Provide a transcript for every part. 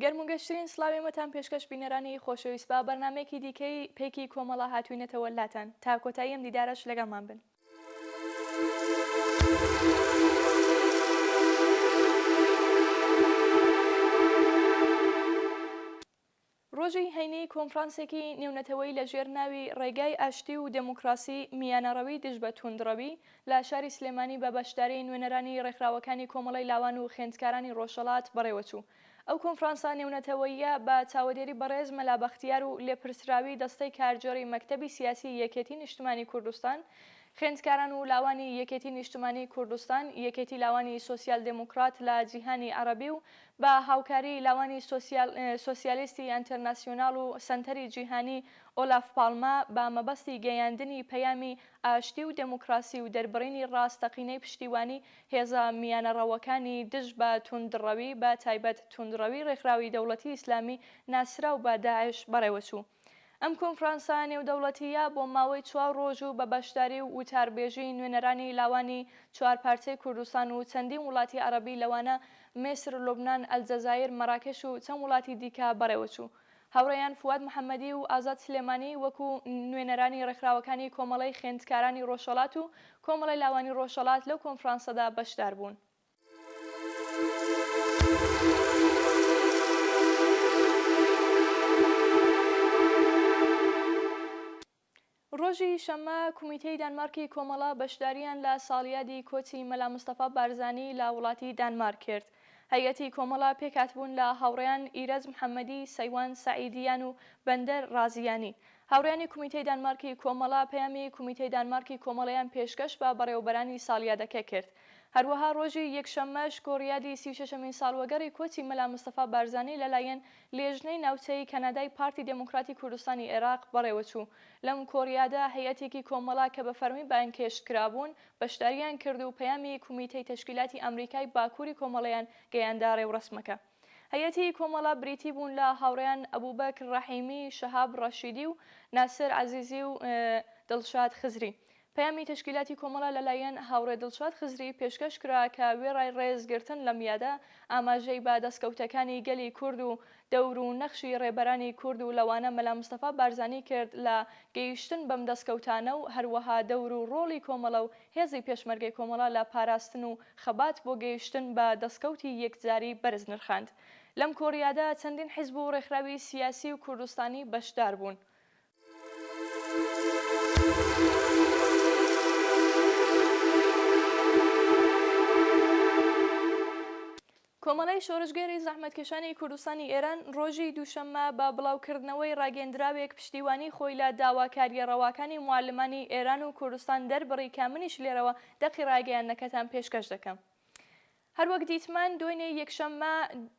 گەرم و گەشترین سڵاوی مەتان پێشکەش بینەرانی خۆشەویست با بەرنامەیەکی دیکەی پێکی کۆمەڵە هاتوینەتەوە لاتان تا کۆتایی ئەم دیدارەش لەگەڵمان بن. ڕۆژی هەینی کۆنفرانسێکی نێونەتەوەیی لە ژێر ناوی ڕێگای ئاشتی و دێموکڕاسی میانەڕەوی دژ بە تووندڕەوی لە شاری سلێمانی بە بەشداری نوێنەرانی ڕێکخراوەکانی کۆمەڵەی لاوان و خێندکارانی ڕۆژهەڵات بەڕێوە چوو. ئەو کۆنفرانسە نێونەتەوەییە بە چاوەدێری بەڕێز مەلا بەختیار و لێپرسراوی دەستەی کارگێڕی مەکتەبی سیاسی یەکێتی نیشتمانی کوردستان، خێندکاران و لاوانی یەکێتی نیشتمانی کوردستان، یەکێتی لاوانی سۆسیال دێموکڕات لە جیهانی عەڕەبی و بە هاوکاریی لاوانی سۆسیالیستی ئەنترناسیۆنال و سەنتەری جیهانی ئۆلاف پاڵمە بە مەبەستی گەیاندنی پەیامی ئاشتی و دێموکراسی و دەربڕینی ڕاستەقینەی پشتیوانی هێزە میانەڕەوەکانی دژ بە توندڕەوی بە تایبەت توندڕەوی ڕێکخراوی دەوڵەتی ئیسلامی ناسراو بە داعش بەڕێوەچوو. ئەم کۆنفرانسە نێودەوڵەتییە بۆ ماوەی چوار ڕۆژ و بە بەشداری و وتاربێژی نوێنەرانی لاوانی چوار پارچەی کوردستان و چەندین وڵاتی عەڕەبی لەوانە میسر، لوبنان، ئەلجەزایر، مەراکش و چەند وڵاتی دیکە بەڕێوەچوو. هاوڕێیان فواد محەمەدی و ئازاد سلێمانی وەکو نوێنەرانی ڕێکخراوەکانی کۆمەڵەی خوێندکارانی ڕۆژهەڵات و کۆمەڵەی لاوانی ڕۆژهەڵات لەو کۆنفرانسەدا بەشداربوون. ڕۆژی شەممە کومیتەی دانمارکی کۆمەڵە بەشداریان لە ساڵیادی کۆچی مەلا مستەفا بارزانی لە وڵاتی دانمارک کرد. هەیئەتی کۆمەڵە پێکهاتبوون لە هاوڕێیان ئیرەج محەممەدی، سەیوان سەعیدیان و بەندەر ڕازیانی. هاوڕێیانی کومیتەی دانمارکی کۆمەڵە پەیامی کومیتەی دانمارکی کۆمەڵەیان پێشکەش بە بەڕێوەبەرانی ساڵیادەکە کرد. هەروەها ڕۆژی یەکشەممەش کۆڕیادی سی و شەشەمین ساڵوەگەڕی کۆچی مەلا مستەفا بارزانی لەلایەن لێژنەی ناوچەیی کەنەدای پارتی دێموکراتی کوردستانی ئێراق بەڕێوەچوو، لەم کۆڕیادە هەیئەتێکی کۆمەڵە کە بە فەرمی بانگهێشت کرابوون بەشدارییان کرد و پەیامی کومیتەی تەشکیلاتی ئامریکای باکووری کۆمەڵەیان گەیاندە ڕێوڕەسمەکە. هەیئەتی کۆمەڵە بریتی بوون لە هاوڕێیان ئەبوبەکر ڕەحیمی، شەهاب ڕەشیدی و ناسر عەزیزی و دڵشاد خزری. پەیامی تەشکیلاتی کۆمەڵە لە لایەن هاوڕێ دڵشاد خزری پێشکەش کرا کە وێڕای ڕێز گرتن لەم یادە، ئاماژەی بە دەستکەوتەکانی گەلی کورد و دەور و نەخشی ڕێبەرانی کورد و لەوانە مەلا مستەفا بارزانی کرد لە گەیشتن بەم دەستکەوتانە و هەروەها دەور و ڕۆڵی کۆمەڵە و هێزی پێشمەرگەی کۆمەڵە لە پاراستن و خەبات بۆ گەیشتن بە دەستکەوتی یەکجاری بەرز نرخاند. لەم کۆریادا چەندین حیزب و ڕێکخراوی سیاسی و کوردستانی بەشدار بوون. کۆمەڵەی شۆڕشگێری زەحمەتکێشانی کوردستانی ئێران ڕۆژی دووشەممە بە بڵاوکردنەوەی ڕاگەندراوێک پشتیوانی خۆی لە داواکارییە ڕەواکانی موعەلمانی ئێران و کوردستان دەربڕی کە منیش لێرەوە دەقی ڕاگەیاندنەکەتان پێشکەش دەکەم هەروەک دیتمان دوێنێ یەکشەممە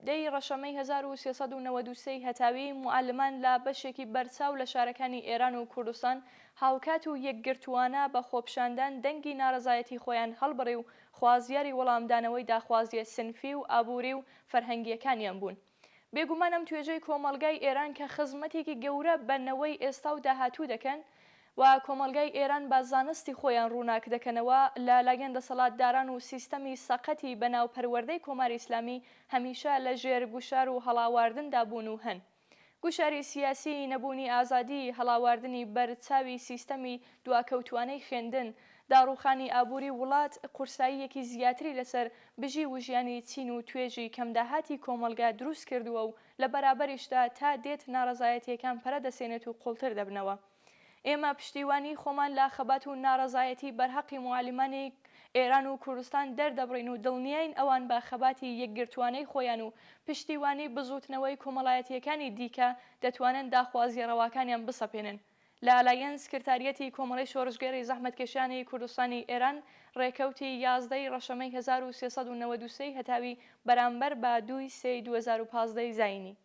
دە ی ڕەشەمەی هەزار و سێ سەد و نەوەد و سێ ی هەتاوی موعەلمان لە بەشێکی بەرچاو لە شارەکانی ئێران و کوردستان هاوکات و یەکگرتووانە بە خۆپیشاندان دەنگی ناڕەزایەتی خۆیان هەڵبڕی و خوازیاری وەڵامدانەوەی داخوازییە سنفی و ئابووری و فەرهەنگییەکانیان بوون. بێگومان ئەم توێژەی کۆمەڵگای ئێران کە خزمەتێکی گەورە بە نەوەی ئێستا و داهاتوو دەکەن و کۆمەڵگای ئێران بە زانستی خۆیان ڕووناک دەکەنەوە لە لایەن دەسەڵاتداران و سیستەمی سەقەتی بەناو پەروەردەی کۆماری ئیسلامی هەمیشە لە ژێر گوشار و هەڵاواردندا بوون و هەن. گوشاری سیاسیی نەبوونی ئازادی، هەڵاواردنی بەر چاوی سیستەمی دواکەوتوانەی خوێندن، داڕووخانی ئابووری وڵات، قورساییەکی زیاتری لەسەر بژی وژیانی چین و توێژی کەمداهاتی کۆمەڵگا دروست کردووە و لە بەرابەریشدا تا دێت ناڕەزایەتییەکان پەرە دەسێنێت و قوڵتر دەبنەوە. ئێمە پشتیوانیی خۆمان لە خەبات و ناڕەزایەتی بەرهەقی موعەلیمانی ئێران و کوردستان دەردەبڕین و دڵنیاین ئەوان بە خەباتی یەکگرتووانەی خۆیان و پشتیوانیی بزووتنەوەی کۆمەڵایەتییەکانی دیکە دەتوانن داخوازییە ڕەواکانیان بسەپێنن. لە لایەن سکرتاریەتی کۆمەڵەی شۆڕشگێڕی زەحمەتکێشانی کوردستانی ئێران ڕێکەوتی یازدە ی ڕەشەمەی هەزار و سێ سەد و نەوەد و سێ ی هەتاوی بەرامبەر بە دوو ی سێ ی دوو هەزار و پازدە ی زایینی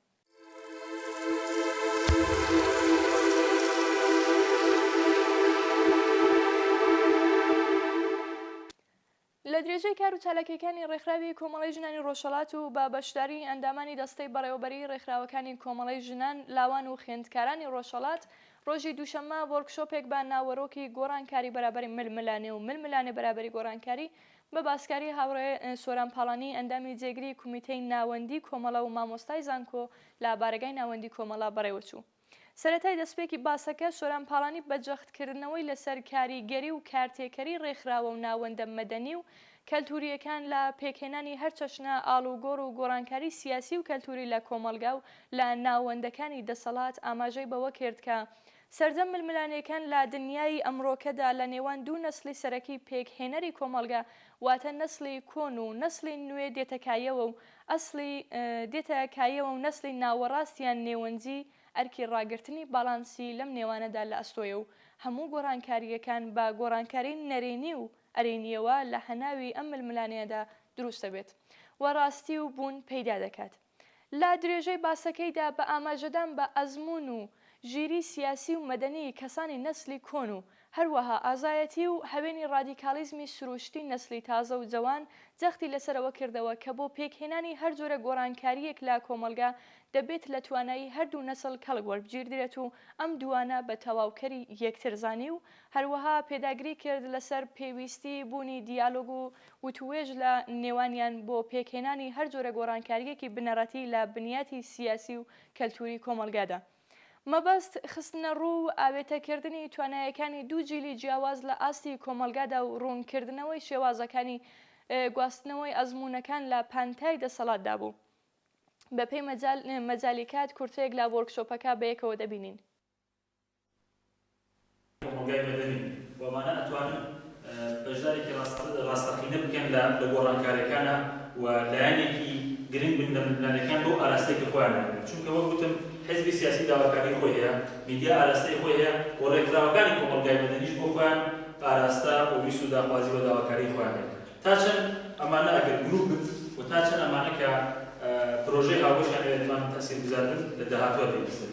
لە درێژەی کار و چالاکیەکانی ڕێکخراوی کۆمەڵی ژنانی ڕۆژهڵات و بە بەشداری ئەندامانی دەستەی بەڕێوەبەری ڕێکخراوەکانی کۆمەڵی ژنان لاوان و خوێندکارانی ڕۆژهڵات ڕۆژی دووشەممە وۆرکشۆپێک بە ناوەرۆکی گۆڕانکاری بەرابەری ململانێ و ململانێ بەرابەری گۆڕانکاری بە باسکاری هاوڕێ سۆران پاڵانی ئەندامی جێگری کومیتەی ناوەندی کۆمەڵە و مامۆستای زانکۆ لە بارەگای ناوەندی کۆمەڵە بەڕێوەچوو. سەرەتای دەسپێکی باسەکە سۆران پاڵانی بە جەختکردنەوەی لەسەر کاریگەری و کارتێکەری ڕێکخراوە و ناوەندە مەدەنی و کەلتورییەکان لە پێکهێنانی هەرچەشنە ئاڵوگۆڕ و گۆڕانکاری سیاسی و کەلتوری لە کۆمەڵگا و لە ناوەندەکانی دەسەڵات ئاماژەی بەوەکرد کە سەرجەم ململانێکان لە دنیایی ئەمڕۆکەدا لە نێوان دوو نەسڵی سەرەکی پێک هێنەری کۆمەڵگە واتە نەسڵی کۆن و نەسڵی نوێ دێتە کایەوە و ئەسڵی دێتە کایەوە و نەسڵی ناوەڕاست یان نێوەنزی ئەرکی ڕاگرتنی باڵانسی لەم نێوانەدا لە ئەستۆیە و هەموو گۆڕانکارییەکان بە گۆڕانکاری نەرێنی و ئەرێنییەوە لە هەناوی ئەم ململانێیەدا دروست دەبێت و ڕاستی و بوون پەیدا دەکات. لە درێژەی باسەکەیدا بە ئاماژەدان بە ئەزموون و ژیریی سیاسی و مەدەنیی کەسانی نەسلی کۆن و هەروەها ئازایەتی و هەوێنی ڕادیکاڵیزمی سرووشتی نەسلی تازە و جەوان جەختی لەسەر ئەوە کردەوە کە بۆ پێکهێنانی هەر جۆرە گۆڕانکارییەک لە کۆمەڵگا دەبێت لە توانایی هەردوو نەسل کەڵک وەربگیردرێت و ئەم دووانە بە تەواوکەری یەکتر زانی و هەروەها پێداگری کرد لەسەر پێویستی بوونی دیالۆگ و وتووێژ لە نێوانیان بۆ پێکهێنانی هەر جۆرە گۆڕانکارییەکی بنەڕەتی لە بنیاتی سیاسی و کەلتووری کۆمەڵگادا. مەبەست، خستنەڕوو و ئاوێتەکردنی توانایەکانی دوو جیلی جیاواز لە ئاستی کۆمەڵگادا و ڕوونکردنەوەی شێوازەکانی گواستنەوەی ئەزموونەکان لە پانتای دەسەڵاتدا بوو. بەپێی مەجالی کات، کورتەیەک لە وۆرکشۆپەکە بەیەکەوە دەبینین. کۆمەڵگای مەدەنی و ئەوانە ئەتوانن بەشدارێکی ڕاستەقینە بکەن لە گۆڕانکاریەکانا و لایەنێکی گرنگ بن لە ململانێکان بەو ئاراستەی کە خۆیان دەبێت چونکە وەک گوتم حزبی سیاسی داواکاری خۆی هەیە میدیا ئاراستەی خۆی هەیە و ڕێکخراوەکانی کۆمەڵگای مەدەنیش بۆ خۆیان ئاراستە و ویست و داخوازی و داواکاری خۆیان هەیە تا چەند ئەمانە ئەگەر گروپ بن و تا چەند ئەمانە کە پرۆژەی هاوبەشیان هەیە توانن تەسیرگوزار بن لە داهاتوە دەبیستن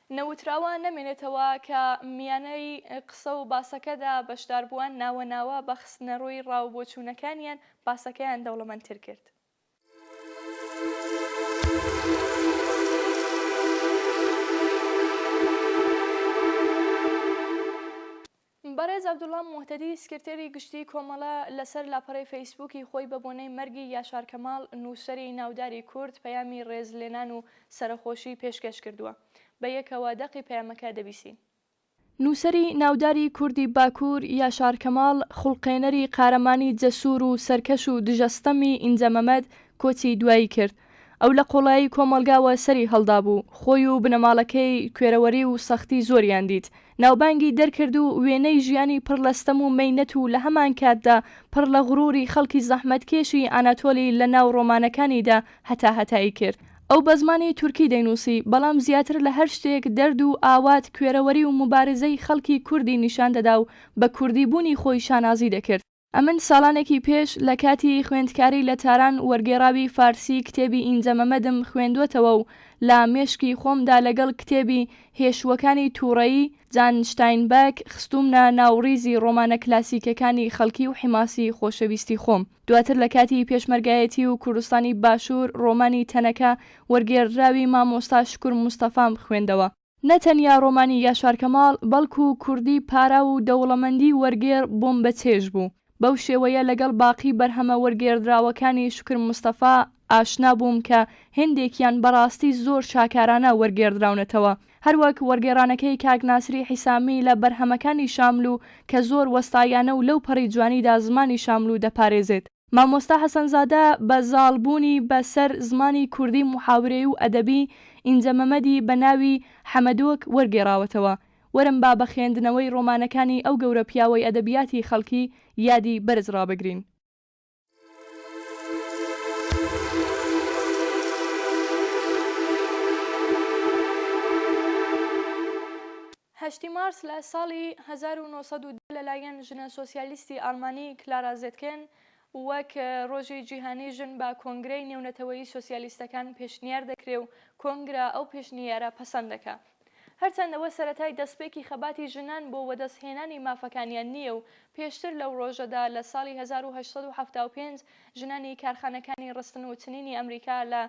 نەوتراوە نەمێنێتەوە کە میانەی قسە و باسەکەدا بەشداربووان ناوە ناوە بە خستنەڕووی ڕا و بۆچوونەکانیان باسەکەیان دەوڵەمەندتر کرد. بەڕێز عەبدوڵا موهتەدی سکرتێری گشتیی کۆمەڵە لەسەر لاپەڕەی فەیسبووکی خۆی بە بۆنەی مەرگی یاشار کەماڵ نووسەری ناوداری کورد پەیامی ڕێزلێنان و سەرەخۆشی پێشکەش کردووە. بە یەکەوە دەقی پەیامەکە دەبیسین. نووسەری ناوداری کوردی باکوور یاشار کەماڵ، خوڵقێنەری قارەمانی جەسوور و سەرکەش و دژە ستەمی ئینجە مەمەد کۆچی دوایی کرد. ئەو لە قۆڵایی کۆمەڵگاوە سەری هەڵدابوو. خۆی و بنەماڵەکەی کوێرەوەری و سەختی زۆریان دیت. ناوبانگی دەرکرد و وێنەی ژیانی پڕ لە ستەم و مەینەت و لە هەمانکاتدا پڕ لە غروری خەڵکی زەحمەتکێشی ئاناتۆلی لە ناو ڕۆمانەکانیدا هەتاهەتایی کرد. ئەو بە زمانی تورکی دەینووسی، بەڵام زیاتر لە هەر شتێک دەرد و ئاوات، کوێرەوەری و موبارزەی خەڵکی کوردی نیشان دەدا و بە کوردیبوونی خۆی شانازی دەکرد. ئەمن ساڵانێکی پێش لە کاتی خوێندکاری لە تاران وەرگێڕاوی فارسی کتێبی ئینجە مەمەدم خوێندووەتەوە و لە مێشکی خۆمدا لەگەڵ کتێبی هێشووەکانی تووڕەیی، جان شتاینبەک، خستوومنە ناو ڕیزی ڕۆمانە کلاسیکەکانی خەڵکی و حیماسی خۆشەویستی خۆم. دواتر لە کاتی پێشمەرگایەتی و کوردستانی باشوور ڕۆمانی تەنەکە وەرگێڕدراوی مامۆستا شوکور مستەفام خوێندەوە. نە تەنیا ڕۆمانی یاشار کەماڵ، بەڵکو کوردی پاراو و دەوڵەمەندی وەرگێڕ بۆمبەچێژ بوو. بەو شێوەیە لەگەڵ باقی بەرهەمە وەرگێڕدراوەکانی شوکر مستەفا ئاشنا بووم کە هێندێکیان بەڕاستی زۆر شاکارانە وەرگێڕدراونەتەوە، هەروەک وەرگێڕانەکەی کاک ناسری حیسامی لە بەرهەمەکانی شاملوو کە زۆر وەستاییانە و لەوپەڕی جوانیدا زمانی شاملوو دەپارێزێت. مامۆستا حەسەنزادە بە زاڵ بوونی بە سەر زمانی کوردی موحاورەی و ئەدەبی ئینجە مەمەدی بە ناوی، حەمەدۆک، وەرگێڕاوەتەوە. وەرن با بە خوێندنەوەی ڕۆمانەکانی ئەو گەورە پیاوەی ئەدەبیاتی خەڵکی یادی بەرز ڕابگرین. هەشتی مارس لە ساڵی هەزار و نۆ سەد و دە لەلایەن ژنە سۆسیالیستی ئاڵمانی کلارا زێتکێن وەک ڕۆژی جیهانی ژن بە کۆنگرەی نێونەتەوەیی سۆسیالیستەکان پێشنیار دەکرێ و کۆنگرە ئەو پێشنیارە پەسەند دەکا. هەرچەند ئەوە سەرەتای دەستپێکی خەباتی ژنان بۆ وەدەستهێنانی مافەکانیان نییە و پێشتر لەو ڕۆژەدا لە ساڵی هەزار و هەشت سەد و حەفتا و پێنج ژنانی کارخانەکانی ڕستن و چنینی ئەمریکا لە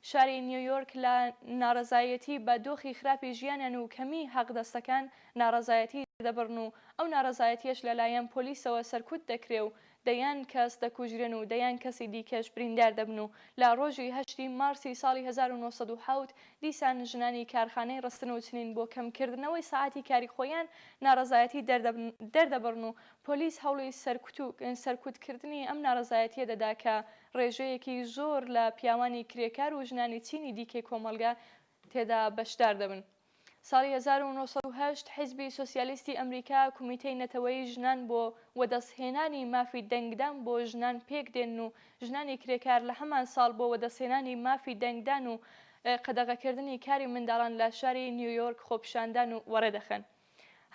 شاری نیویۆرک لە ناڕەزایەتی بە دۆخی خراپی ژیانیان و کەمیی حەقدەستەکان ناڕەزایەتی دەبڕن و ئەو ناڕەزایەتییەش لەلایەن پۆلیسەوە سەرکوت دەکرێ و دەیان کەس دەکوژرێن و دەیان کەسی دیکەش بریندار دەبن و لە ڕۆژی هەشتی مارسی ساڵی هەزار و نۆ سەد و حەوت دیسان ژنانی کارخانەی ڕستن و چنین بۆ کەمکردنەوەی سەعاتی کاری خۆیان ناڕەزایەتی دەردەبڕن و پۆلیس هەوڵی سەرکوت و سەرکوتکردنی ئەم ناڕەزایەتییە دەدا کە ڕێژەیەکی زۆر لە پیاوانی کرێکار و ژنانی چینی دیکەی کۆمەڵگە تێدا بەشدار دەبن. ساڵی هەزار و نۆ سەد و هەشت حیزبی سۆسیالیستی ئەمریکا کومیتەی نەتەوەیی ژنان بۆ وەدەستهێنانی مافی دەنگدان بۆ ژنان پێک دێنن و ژنانی کرێکار لە هەمان ساڵ بۆ وەدەستهێنانی مافی دەنگدان و قەدەغەکردنی کاری منداڵان لە شاری نیویۆرک خۆپیشاندان وەڕێدەخەن.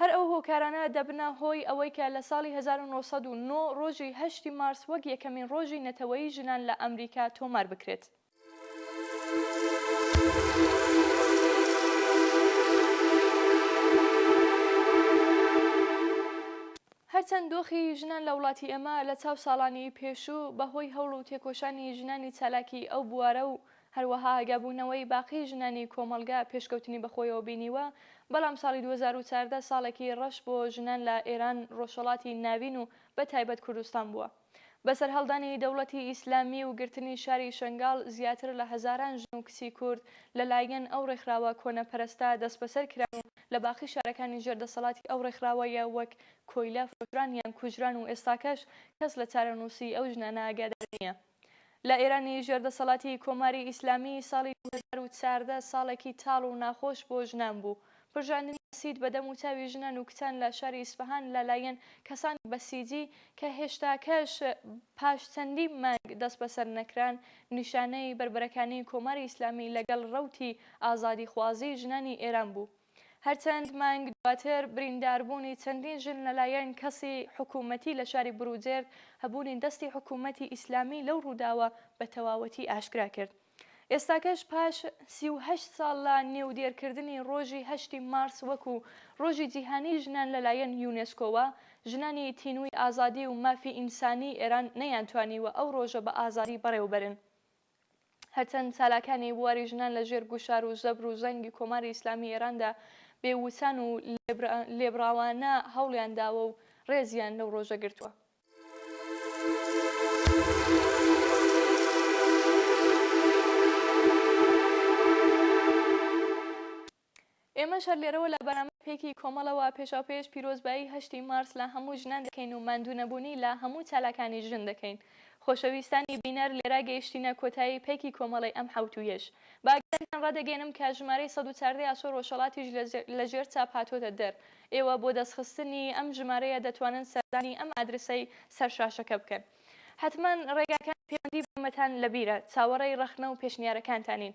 هەر ئەو هۆکارانە دەبنە هۆی ئەوەی کە لە ساڵی هەزار و نۆ سەد و نۆ ڕۆژی هەشتی مارس وەک یەکەمین ڕۆژی نەتەوەیی ژنان لە ئەمریکا تۆمار بکرێت. هەرچەند دۆخی ژنان لە وڵاتی ئێمە لە چاو ساڵانی پێشوو بە هۆی هەوڵ و تێکۆشانی ژنانی چالاکی ئەو بوارە و هەروەها ئاگابوونەوەی باقی ژنانی کۆمەڵگا پێشکەوتنی بەخۆیەوە بینیوە، بەڵام ساڵی دوو هەزار و چواردە ساڵێکی ڕەش بۆ ژنان لە ئێران، ڕۆژهەڵاتی ناوین و بە تایبەت کوردستان بووە. بە سەرهەڵدانی دەوڵەتی ئیسلامی و گرتنی شاری شەنگاڵ زیاتر لە هەزاران ژن و کچی کورد لە لایەن ئەو ڕێکخراوە کۆنەپەرەستە دەسبەسەر کران و لە باقی شارەکانی ژێر دەسەڵاتی ئەو ڕێکخراوەیە وەک کۆیلە فرۆشران یان کوژران و ئێستاکەش کەس لە چارەنووسی ئەو ژنانە ئاگادار نییە. لە ئێرانی ژێر دەسەڵاتی کۆماری ئیسلامی ساڵی دوو هەزار و چواردە ساڵێکی تاڵ و ناخۆش بۆ ژنان بوو. پرژاندنی بەسیج بە دەم و چاوی ژنان و کچان لە شاری ئیسفەهان لە لایەن کەسانی بەسیجی کە هێشتاکەش پاش چەندی مانگ دەستبەسەر نەکران نیشانەی بەربەرەکانی کۆماری ئیسلامی لەگەڵ ڕەوتی ئازادیخوازی ژنانی ئێران بوو. هەرچەند مانگ دواتر برینداربوونی چەندین ژن لەلایەن کەسی حکوومەتی لە شاری بروجێرد هەبوونی دەستی حکوومەتی ئیسلامی لەو ڕووداوە بە تەواوەتی ئاشکرا کرد. ئێستاکەش پاش سی و هەشت ساڵ لە نێودێرکردنی ڕۆژی هەشتی مارس وەکوو ڕۆژی جیهانیی ژنان لەلایەن یونێسکۆوە، ژنانی تینووی ئازادی و مافی ئینسانیی ئێران نەیانتوانیوە ئەو ڕۆژە بە ئازادی بەڕێوەبەرن. هەرچەند چالاکانی بواری ژنان لە ژێر گوشار و زەبر و زەنگی کۆماری ئیسلامی ئێراندا بێ وچان و لێبڕاوانە هەوڵیان داوە و ڕێزیان لەو ڕۆژە گرتووە. ئێمەش هەر لێرەوە لە بەرامبەر پێکی کۆمەڵەوە پێشاوپێش پیرۆزبایی هەشتی مارس لە هەموو ژنان دەکەین و ماندوونەبوونی لە هەموو چالاکانی ژن دەکەین. خۆشەویستانی بینەر لێرە گەیشتینە کۆتایی پێکی کۆمەڵەی ئەم حەوتوویەش. بە ئاگاداریتان رادەگەیەنم کە ژمارەی سەد و چاردە ی ئاسۆ رۆژهەڵاتیش لە ژێر چاپ هاتووەتە دەر. ئێوە بۆ دەستخستنی ئەم ژمارەیە دەتوانن سەردانی ئەم ئادرسەی سەر شاشەکە بکەن. حەتمەن رێگاکانی پەیوەندی بە ئێمەتان لە بیرە. چاوەڕێی رەخنە و پێشنیارەکانتانین.